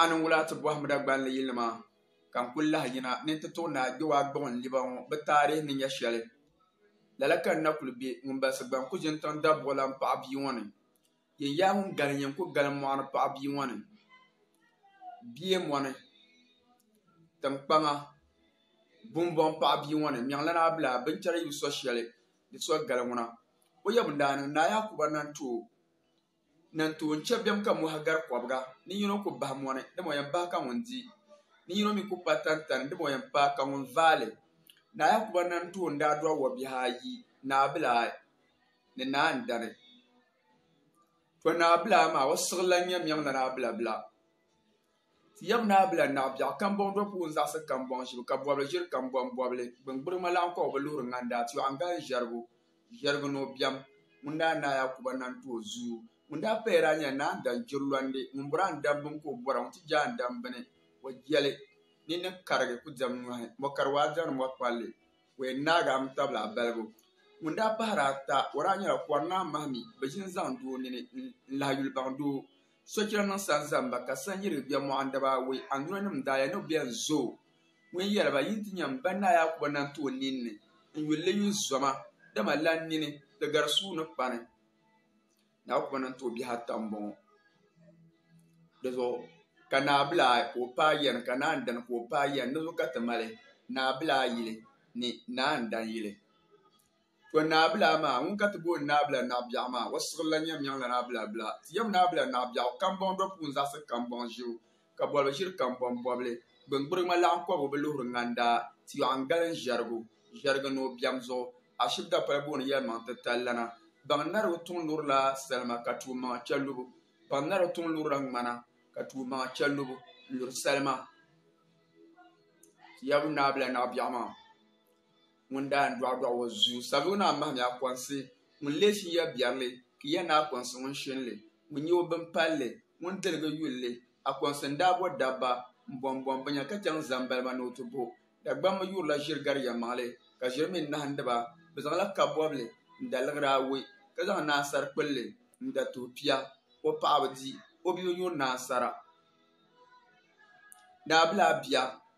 A niŋ wula ti bɔhimda gballi yilinima ka n kul lahi yina ni n ti tuɣi naai Gbewa Gbuɣinliba ŋɔ bɛ taarih ni nya shɛli? Lala ka n na kul be ŋun balsi gba n ku ʒini tiŋ dabuɣilan paɣ bia ŋɔ ni. Yin yaa ŋun gali n-nyɛ n ku gali mɔɣu ni paɣ bia ŋɔ ni. Bie mɔni, tiŋkpaŋa, bumbɔŋ paɣ bia ŋɔ ni, Mɛɣilana Abilaa, binchɛra yi bi so shɛli di so gali ŋuna. O yɛbu n-daa niŋ Naa Yakuba Nantuo na n-tooi n-chɛ bɛm ka mɔhi gari kɔbiga? Ninyin o ku bahi mɔni, dama o yɛn bahi ka ŋun di. Ninyin o mi ku paai tantani, dama o yɛn paai ka ŋun vaai li. Naa Yakuba na n-tooi n-daa dɔɣi wɔbihi ayi, naabilaa ni naa n-dani. Tɔ! Naabilaa maa, o siɣilila n-nyɛ miɛŋ la naabilabila. Ti yab ni a bila naɣ biɛɣu kambɔŋ do puhi n-zaɣisi kambɔŋ ʒibu ka bɔbili ʒiri kambɔŋ bɔbili. Gbiŋgbirima laɣiŋkɔgu bi luhiri ŋanda ti yɔɣu n-gali ʒiɛrigu ʒiɛrigu ni o biɛm. Ŋun daa naai a kuba na n-ti o zuyu. Ŋun daa paya daa nyɛla naa n-dan jiri lɔndi. Ŋun bɔri a n dan bini ka o bɔra, ŋun ti je a n-dan bini, o jeli. Nini ni karigi ku diɛm nyɔhi, mɔ kari waa diɛmdi mɔ kpalli. O yɛn naagi a mi tabili a balibu. Ŋun daa pahiri ata, o daa nyɛla kɔri naa mahimi bi ʒini zaŋ doo nini n-lahi yuli baŋ doo. Sochira niŋ sanzamba ka san yiri bɛ mɔɣu n daba awɔi. Andunanim daa ya ni o bɛn zo o. Ŋun yɛli ba, Yin ti nya m ba Naa Yaakuba naŋ ti o nin ni n yuli li yuli zoma, dama lan nini di gari sua ni kpani. Naa Yaakuba naŋ ti o bihi ata m-bɔŋɔ. Di zuɣu ka naa bila ayi ka o paai yɛn ka naa ndani ka o paai yɛn. Di zuɣu ka ti mali naa bila ayili ni naa ndan yili. To Naabila maa, ŋun ka ti booni Naabila Naɣibiɛɣu maa, o siɣili la nyɛm yaŋla Naabila Bila. Ti yɛm Naabila Naɣibiɛɣu kambɔŋ do puuni zaɣisi kambɔŋ ʒibu, ka bolibu ʒiri kambɔŋ bɔbili. Gbiŋgbirigima laɣim kɔbu bi luhiri ŋandaa, ti yɔɣu n-gali n-ʒɛrigu, ʒɛrigi ni o biɛm zuɣu. Ashib dapala booni yɛlimaŋ titali lana. Baŋnarigu tuŋ lurila salima ka tuui maŋa chɛ lubu. Baŋnarigu tuŋ lurila ŋmana ka tuui maŋa chɛ lubu n-luri salima. Ti yɛbu Naabila Naɣibiɛɣu maa. Ŋun daa ni dɔɣi dɔɣi o zuyu sabi o ni a mahim ya kɔnsi, ŋun lee shin ya biɛrili ki ya ni a kɔnsi ŋun shin li, ŋun nye o bimpalli, ŋun diligi yulli. A kɔnsi n daa bo dabba m-bɔm bɔm binya ka chaŋ zani ba ni ba ni o ti bo. Dagbammi yurila ʒiri gari yɛlimaŋli, ka ʒiri mi nahindi ba. Bɛ zaŋla kabɔbili n-da liɣiri awei, ka zaŋ naasar kpulli n-da tuhi pia ka o paɣaba di o bee o nyuri naasara. Daa bi lahi bia.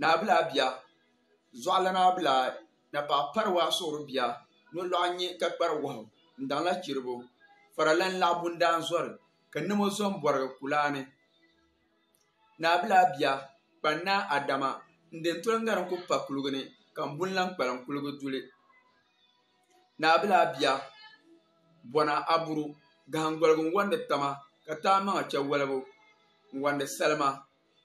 Naabilaa bia, Zɔɣilana bia, Napaa pari waa suɣiri bia, Nolɔɣu nyɛ ka kpari wahu, Ndaŋla chiribo, Faralan laɣ bundaan zɔri, Ka namo zom bɔrigi kulaani. Naabilaa bia, Kpannaa Adama, N-de n-toli ŋari n-ku pa kuliga ni, Ka m-buni lan kpalim kuliga duli. Naabilaa bia, Bɔna Aburu, Gahingoligu n-wandi tama, Ka taamaŋa chɛ walibu n-wandi salima.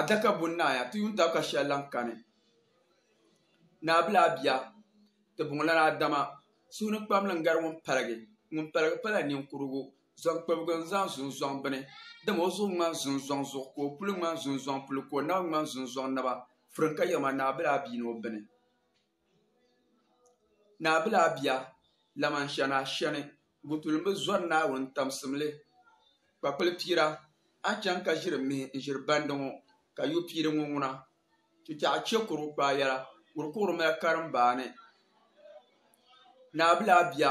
adaka buni naaya ti yuun tab ka shɛli lan kani. Naabila a bia, ti bɔŋɔ lana Adama, suhunikpamli n-gari ŋun paligi, ŋun paligi pala niŋkurugu, zɔnkpibigi n-zani zunzɔŋ bini, dama o zuɣu ŋmani zunzɔŋ zuɣu ka o puli ŋmani zunzɔŋ puli ka o naba ŋmani zunzɔŋ naba, firimkayirima Naabila a bia ni o bini. Naa bila a bia, laman shɛn a shɛni, Gutuli m-bi zɔri Naawuni tamsimli. Kpakpili piira, a chaŋ ka ʒiri mihi n-ʒiri bandi ŋɔ, ka yo piiri ŋɔ ŋuna. Tutɛɣu chɛ kuru kpaai yɛla, kuru kuɣiri mali karimbaani. Naa bila a bia,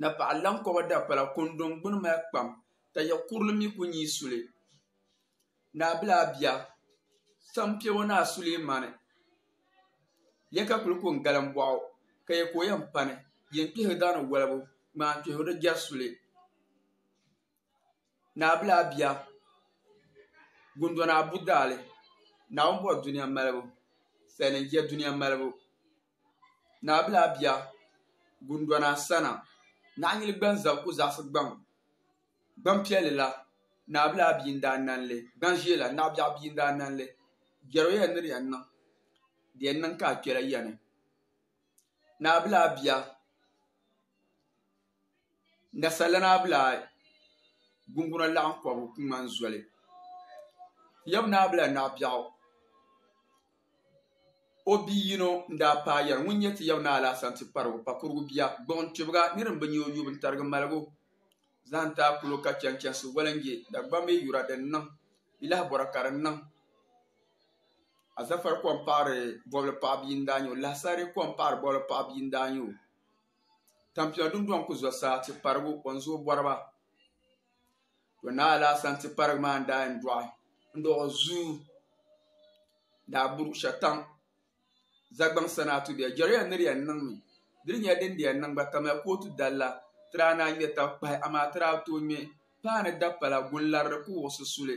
Na paɣa lan kɔba dapala kɔndɔŋ gbini mali kpam, ka ya kurili mi ku nyi suli. Naa bila a bia, sam piɛbo Naa Sulemani, ya ka kuli ku n-galim bɔɣu, ka ya ka o yɛn pani, yen kpihiri daani wolibu, ŋmaam kpihiri di jɛri suli. Naabila bia Gundona Abu Daali Naawuni bɔri dunia malibu Sali n je dunia malibu Naabila bia Gundona Sana Naɣinyili gban zab ku zaɣisi gbaŋ Gban piɛli la Naabila bia n-daa nani li Gban ʒee la Naɣibiɛɣu bia n-daa nani li Biɛro yɛn ni di yɛn niŋ di yɛn niŋ ka a kpela yani Naabila bia. Nga Salana bi lahi gunguna laɣim kɔbu ku ŋmani zoli. Yab naa bi la naɣ biɛɣu. O bi yino n-daa paai yɛri, Ŋun nyɛ ti yab naa la Asanti-Kparigu, Pakurugu bia, gbuɣinkpibiga ni din bi nya o yubu n-tarigi maligu zahim ti a kulo ka chani chansi Walinje, Dagbambe yura din niŋ bɛ lahi bɔra ka di niŋ Azafari kom paɣiri bɔbili paɣa bia n-daa nya o, Lahasari kom paɣiri bɔbili paɣa bia n-daa nya o. Tampila dundɔŋ ku zɔ saa ti parigu o ni zooi bɔri ba. To naa alaasani ti parigi maa n daa yɛn dɔɣi n dɔɣi zuu daa buri shɛtaŋ Zagbaŋ sanaa tudiya jɛriya ni di yɛn niŋ mi di ni nyɛ din di yɛn niŋ gba kamya kootu dalila ti daa naan ŋmɛ tankpahi amaa ti daa tooi ŋmɛ paanu dapala gunlari di ku wuɣisi suli.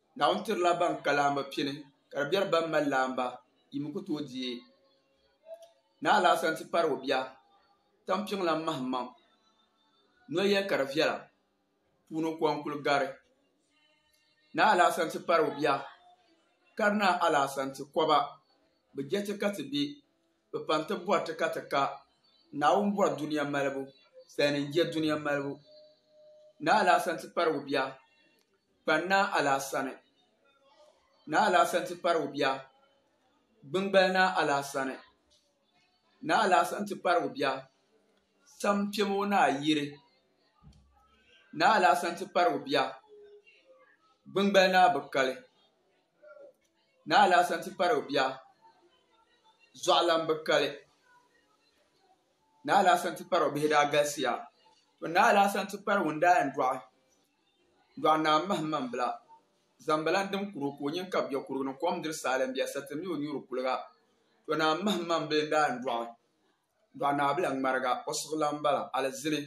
Naawuni tirila ban ka laamba pini, ka di beri ban mali laamba yi mi ku tooi deei. Naa Alaasana ti pari o bia Tampiŋlam Mahimaŋ noya ka di viɛla puuni ko n-kul gari. Naa Alaasana ti pari o bia Karinaa Alaasana ti kɔba bɛ jɛti ka ti be Bɛ pam ti bɔri ti ka ti ka. Naawuni bɔri dunia malibu, salinin je dunia malibu. Naa Alaasani ti pari o bia, kpani Naa Alaasani. Naa Alaasani ti pari o bia, gbingbali Naa Alaasani. Naa Alaasani ti pari o bia, sam kpɛma o naa yiri. Naa Alaasani ti pari o bia, gbingbali Naa Bikali. Naa Alasan ti pari o bia Zuɣulambi kali. Naa Alasan ti pari o bihi daa galisiya. To Naa Alasan ti pari ŋun daa yɛn dɔɣi dɔɣi Naa Mahim Mambila Zambala n-dim kuri o ka o nyin kabi bɛ kurigu ni kom diri saali m-bɛ asati ni o nyuri kuliga. To Naa Mahim Mambila n-daa yɛn dɔɣi dɔɣi Naa Bila Ŋmariga o suɣulan m-bala alizini.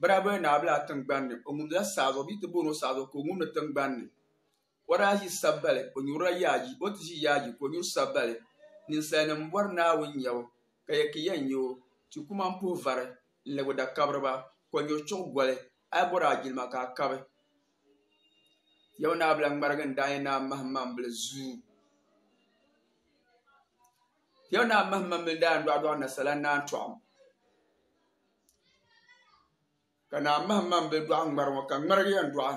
Bɛ daa boli Naa Bila tiŋgbani ni o ŋumdila saazuɣu bɛ yi ti booni o saazuɣu ka o ŋumdi tiŋgbani ni. O daa ʒi sabbali, o nyurila yaaji, o ti ʒi yaaji ka o nyuri sabbali. Ninsalinim bɔri Naawuni nyabu, ka ya ki yɛn nya o. Ti kuma m-puhi vari n-lɛb o dakabiriba, ka o nyuri chuɣu goli. A yi bɔri a jilima ka a kabi. Yawɛ Naa Bila ŋmarigi n-daa nyɛ Naa Mahimmaŋbili zuu. Yawɛ Naa Mahimmaŋbili daa yɛn dɔɣidɔɣi nasala Naa Tɔɣim. Ka Naa Mahimmaŋbili dɔɣi ŋmari ŋɔ, ka ŋmarigi yɛn dɔɣi.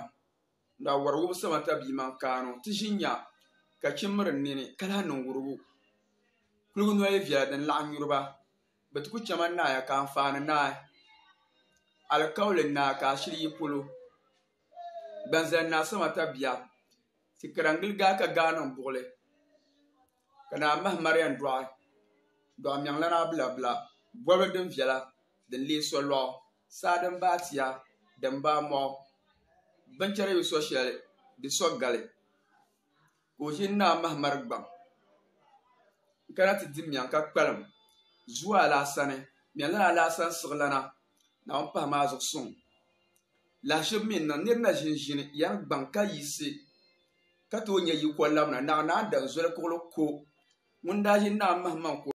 Naa wari wubi sama ta bia man kaanu ti ʒi nya ka chi miri n nini ka lahi niŋ wurugu. Kuligu noli viɛla din laɣim nyuri ba bɛ ti ku chɛma naaya ka anfaani naai. Alikauli naa ka a shili yi polo. Gbanzali naa sama ta bia ti kara n-gili gaa ka gaa niŋ buɣili ka naa mahi Marian dɔɣi dɔɣi mɛŋlana bila bila bɔbili din viɛla din leei solɔɣu. Saa din baai tia, din baai mɔɣu, binchɛra yi so shɛli di so gali, ka o ʒini Naa Mahamari gbaŋ n-kana ti di mɛŋ ka kpalim zuwa alaasani. Mɛlana alaasani siɣilana Naawuni pahi maa zuɣu suŋ lahiʒibu mi n-niŋ nir na ʒinʒini yani gbaŋ ka yiɣisi ka tooi nya yiko labina. Naɣ Naan Danzoli kuɣili ko ŋun daa ʒini Naa Mahimaŋ ko.